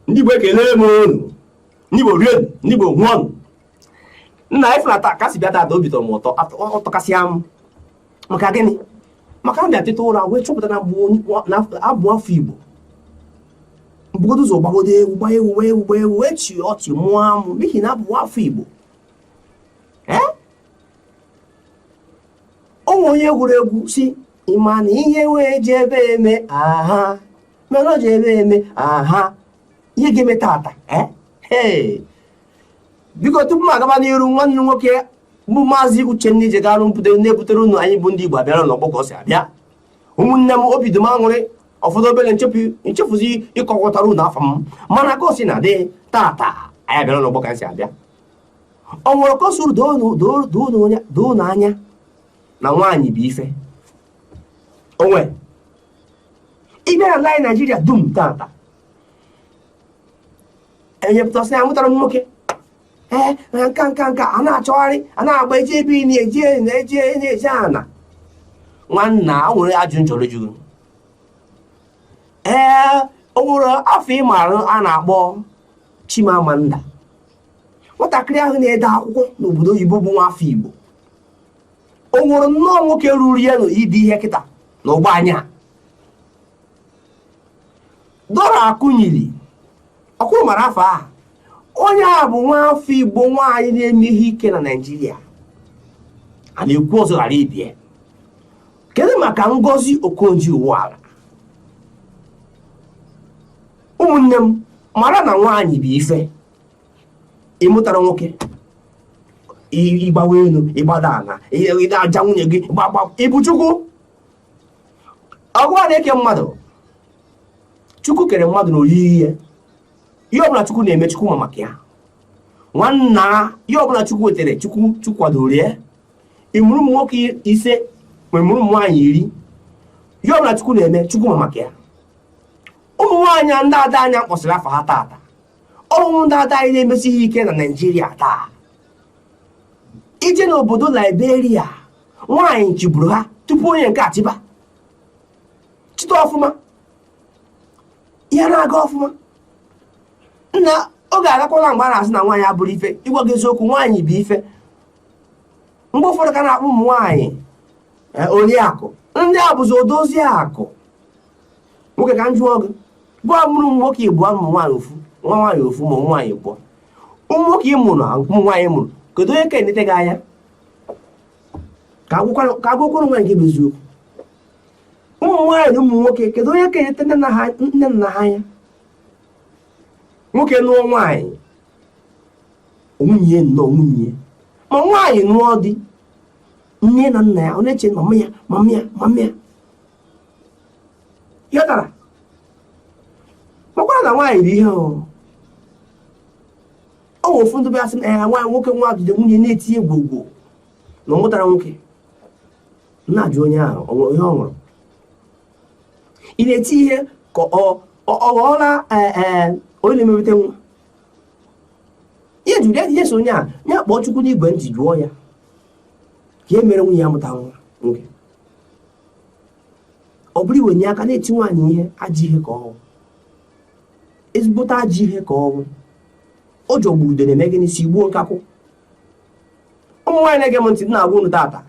ndị Igbo ekele m unu ndị Igbo rie nụ ndị Igbo ṅụọ nụ nna anyị fụnata kasị bịa tata obi tọrọ m ụtọ ọ tọkasịa m maka gịnị maka m bịa teta ụra wee chọpụta na abụ m nwa afọ Igbo m bugodo ụzọ gbagodo egwu gbaa egwu gbaa egwu gbaa egwu wee chịa ọchị mụa amụ n'ihi na abụ m nwa afọ Igbo o nwere onye gụrụ egwu sị ị ma na ihe wee ji ebe eme aha mana o ji ebe eme aha ihe ga-eme tata biko tupu m agaba n'iru nwanne nwoke bụ maazị uchenna ije garụ mpụta na-ebutere unu anyị bụ ndị igbo abịara n'ọgbọ ka ọ si abịa ụmụnne m obi dị m aṅụrị ọ fọdụ obere m chefuzie ịkọwatara unu afa m mana ka o si na dị tata anyị abịara n'ọgbọ ka m si abịa o nwere ka o siri doo unu anya na nwaanyị bụ ife onwe ime ala anyị naijiria dum tata onye pụta sị ya mụtara nwoke ee nke a nke a nke a na-achọgharị a na-agba eji ebe na eji na eji na-eji ana nwanna o nwere ajụjụ m chọrọ ịjụ unu ee o nwere afa ị marụ a na-akpọ chimamanda nwatakịrị ahụ na-ede akwụkwọ n'obodo oyibo bụ nwa afọ igbo o nwerọ nnọọ nwoke ruru ya n'ide ihe kịta na ugbu a nya dora akunyili ọ kwa ị mara afa a onye a bụ nwa afọ igbo nwaanyị na-eme ihe ike na naijiria a na-ekwu ọzọ ghara ibe ya kedu maka ngozi okonjo iweala ụmụnne m mara na nwaanyị bụ ife ị mụtara nwoke ị gbawa elu ị gbada ala ị na-aja nwunye gị gbagba ị bụ chukwu ọ gịwa na-eke mmadụ chukwu kere mmadụ n'oyiyi ya ihe ọbụla chukwu na-eme chukwu ma maka ya nwanna ihe ọbụla chukwu wetere chukwu kwadoro ya ị mụrụ ụmụ nwoke ise ma ị mụrụ ụmụ nwaanyị iri ihe ọbụla chukwu na-eme chukwu ma maka ya ụmụ nwaanyị ndị ada anyị kpọsịrị afa ha taata ọ bụ ndị ada anyị na-emesi ihe ike na naijiria taa i je n'obodo liberia nwaanyị chịburu ha tupu onye nke a chịba kịta ọfụma ihe na-aga ọfụma nna oge agakwala mgbe a na-asị na nwaanyị abụrọ ife ịgwa gị eziokwu nwaanyị bụ ife mgbe ụfọdụ ka a na-akpọ ụmụ nwaanyị eh, oriakụ ndị a bụzi odozi akụ nwoke ka m jụọ gị gịwa mụrụ ụmụ nwoke ịbụọ ụmụ nwaanyị ofu nwa nwaanyị ofu ma ụmụ nwaanyị ịbụọ ụmụ nwoke ị mụrụ ụmụ nwaanyị ị mụrụ kedu onye ka enete gị anya ka a gwakwara onwe anyị nke bụ eziokwu ụmụ nwaanyị na ụmụ nwoke kedu onye ka enete nne na nna ha anya nwoke nụọ nwaanyị nwunye nnọọ nwunye ma nwaanyị nụọ di nne ya na nna ya ọ na-eche mama ya mama ya mama ya ihe tara makwara na nwaanyị dị ihe ọ nwe ofu ndị bịasị na ya nwaanyị nwoke nwa jide nwunye na-eti ihe gbo gbo na ọ mụtara nwoke na-ajụ onye ahụ ọ nwere ihe ọ nwụrụ ị na-eti ihe ka ọ ọ ghọọla onye na-emepụta nwa ihe jụrụ ya ihe so onye a ya kpọọ chukwu n'igwe ntị jụọ ya ka e mere nwunye ya mụta nwa nwoke ọ bụrụ i wenye aka na-eti nwaanyị ihe ajọ ihe ka ọ wụ ezigbote ajọ ihe ka ọ wụ ọ jọgburu udene mee gịnị sigbuo nkakwụ ụmụ nwaanyị na-ege m ntị m na-agwa unu tata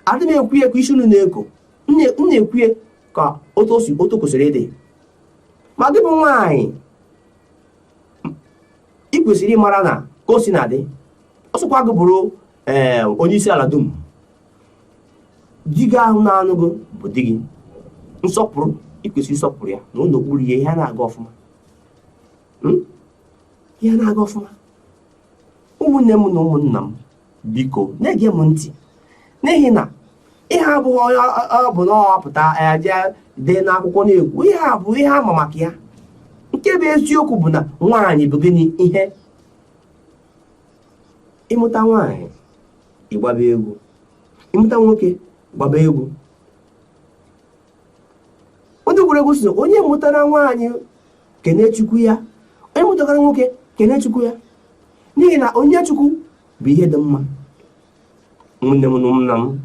adị m ekwu ya ka isi unu na-eko m na-ekwu ya ka otu o si otu kwesịrị ịdị ma gị bụ nwaanyị ị kwesịrị ịmara na ka o si na-adị ọ sịkwa gị bụrụ ee onye isi ala dum di gị ahụ na-anụ gị bụ di gị nsọpụrụ i kwesị ịsọpụrụ ya nọrọ okpuru ya ihe na-aga ọfụma hmm? ihe na-aga ọfụma ụmụnne m na ụmụnna m biko na-ege m ntị n'ihi na ihe a abụghị onye ọbụna pụta eje dee n'akwụkwọ na-ekwu ihe a bụ ihe a ma maka ya nke bụ eziokwu bụ na nwaanyị bụ gịnị ihe ị mụta nwaanyị gbaba egwu ị mụta nwoke gbaba egwu onye egwu gụrụ egwu sị onye mụtara nwaanyị kenee chukwu ya onye mụtara nwoke kenee chukwu ya n'ihi na onyinye chukwu bụ ihe dị mma nwanne m na nna m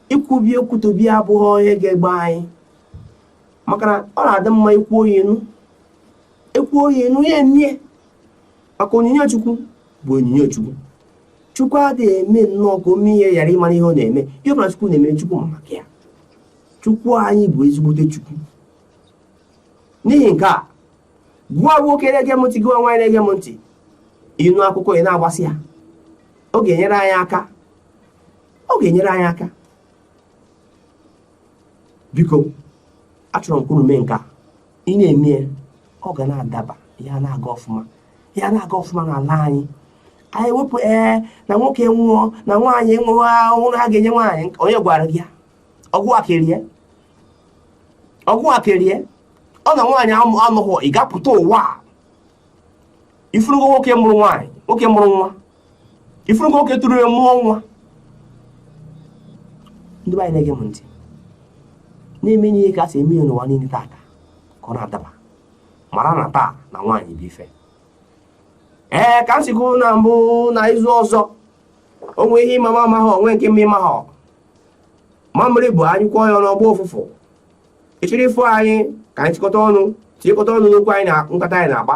i kwube okwu tobi abụghị onye ga-egbe anyị maka na ọ na-adị mma i kwuo ya enu i kwuo ya enu ya emie maka onyinye chukwu bụ onyinye chukwu chukwu adịghị eme nnọọ ka o mee ihe ghara ịmara ihe ọ na-eme ihe ọbụla chukwu na-eme chukwu ma maka ya chukwu anyị bụ ezigbote chukwu n'ihi nke a gịwa nwoke na-ege m ntị gịwa nwaanyị na-ege m ntị ị nụ akụkọ ị na-agbasa ya ọ ga-enyere anyị aka ọ ga-enyere anyị aka biko achọrọ m ka unu mee nke a ị na-eme ihe ọ ga na-adaba ya na-aga ọfụma ya na-aga ọfụma n'ala anyị anyị wepụ ee na nwoke nwụọ na nwaanyị nwụọ ahụhụ na a ga-enye nwaanyị onye gwara gị ya ọgwụ akerie ọgwụ akerie ọ na nwaanyị anọghị ị ga-apụta ụwa a ị fụrụgo nwoke mụrụ nwaanyị nwoke mụrụ nwa ị fụrụgo nwoke tụrụ ime mụọ nwa ndị be anyị na-ege m ntị na-eme ihe ka a si eme ya n'ụwa niile taata ka ọ na-adaba mara na taa na nwaanyị bụ ife ee ka m si kwuru na mbụ na izu ọzọ o nwee ihe ị ma m amaghị o nwee nke m ma ị maghị mamịrị bụ a nyụkọọ ya ọnụ ọ gbọọ ụfụfụ ịchịrị ifo anyị ka anyị chịkọta ọnụ tinyekọta ọnụ n'okwu anyị na nkata anyị na-akpa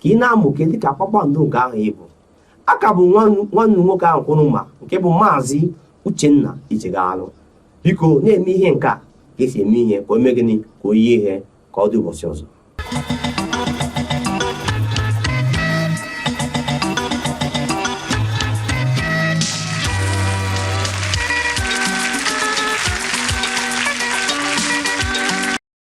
ka ị na-amụke dị ka kpakpando nke ahụ ị bụ a ka bụ nwanne unu nwoke ahụ kwụrụ ma nke bụ maazị uchenna icheghalụ biko na-eme ihe nke a ka e si eme ihe ka o mee gịnị ka o yie ihe ka ọ dị ụbọchị ọzọ